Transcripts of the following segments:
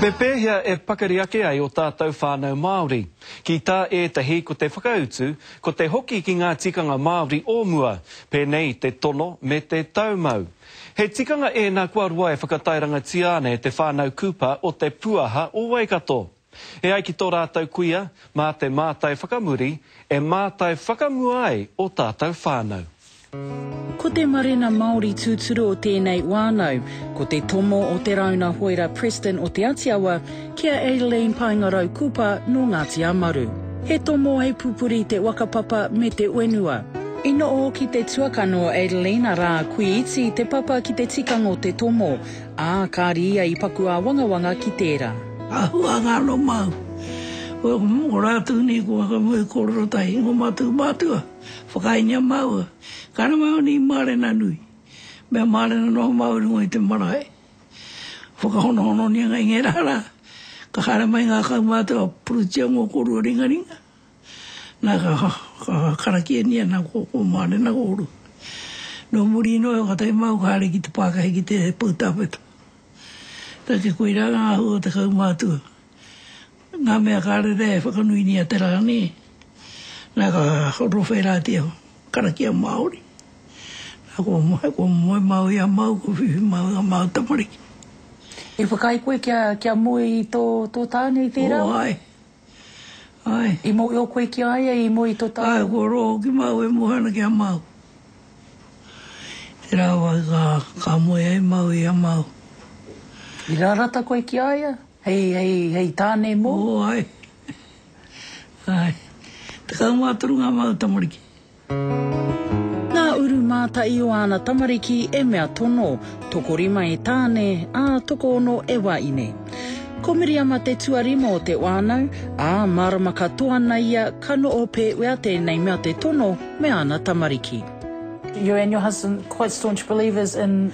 Me pēhea e pakari ake ai ō tātou whānau Māori? Ki tā ētahi ko te whakautu, ko te hoki ki ngā tikanga Māori o mua, pēnei i te tono me te taumau. He tikanga ēnā kua roa e whakatairangatia ana e te whānau Cooper o Te Puaha o Waikato. E ai ki tō rātou kuia, mā te mātai whakamuri e mātai whakamua ai ō tātou whānau. Ko te marena Māori tūturu o tēnei wānau, ko te tomo o Te Rāuna Hoera Preston o Te Atiawa ki a Aileen Paengarau Kupa nō Ngāti Amaru. He tomo hei pupuri te whakapapa me te whenua. I noho ki te tuakana o Aileen arā, Kui Iti te papa ki te tikanga o te tomo, ā, kāri ia i paku āwangawanga ki tērā. Āhuatanga anō māu. Mō rātou nei ko Whakamua i kōrero tahi, ko mātou mātua. Whakaingia māua, ka rangaone i mārena nui, mea mārena noa māua i runga i te marae. Whakahonohononia ngai ngērā rā, ka haere mai ngā kaumātua puritia mō kōrua ringaringa, nā, ka, ka karakiania nā kō, kō mārena kōrua. Nō muri noa iho ka tae māua ka haere ki te pākahi ki te poutāwheta. Take, koirā ngā āhua o te kaumātua. Ngā mea ka rere e whakanuinia te rā nei, nā ka rowhēratia karakia Māori, nā kua moe, kua moe māu i a māu, kua whiwhi māu i ngā māu tamariki. I whakaae koe kia, kia moe i tō, tō tāne i tērā wā? Āe, āe. I mōhio koe ki a ia i moe i tō tāne? Āe, kua rō hoki māu e moe ana ki a māu. Tērā wā ka, ka moe ai māu i a māu. I rarata koe ki a ia? Hei, hei, hei tāne mō. Mō, āe. Āe. Tekau mā toru ngā māu tamariki. Ngā uru mātai o āna tamariki e mea tono, tokorima e tāne, ā, tokoono e wāine. Ko Miriama te tuarima o te wānau, ā, mārama katoa ana ia ka noho pēwea tēnei mea te tono me āna tamariki. Your and your husband quite staunch believers in.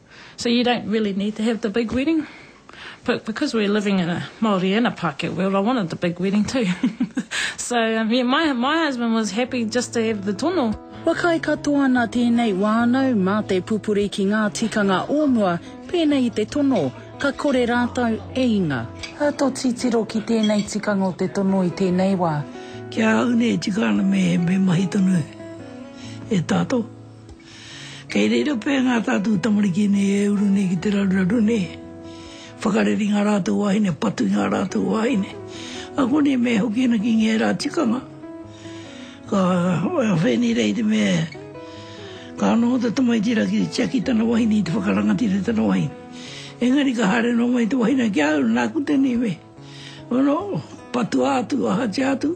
So you don't really need to have the big wedding but because we're living in a Māori and a Pākehā world I wanted the big wedding too so yeah my my husband was happy just to have the tono. Kua kai katoa ana tēnei wānau mā te pupuri ki ngā tikanga o mua pēnei i te tono ka kore rātou e inga. Ka tō titiro ki tēnei tikanga o te tono i tēnei wā. Ki a au nei e tika ana me mahi tonu e tātou. Kei reira pea ngā tātou tamariki nei e uru nei ki te raruraru nei. Whakarere i ngā rātou wāhine, patu i ngā rātou wāhine. Ako nei me hoki ana ki ngērā tikanga. Ka whai nei rā i te mea, ka noho te tamaiti rā ki te tiaki i tana wahine, i te whakarangatira i tana wahine. Engari ka haere noa mai te wahine ki a au, nāku tēnei mea. Nō, patua atu, ahatia atu.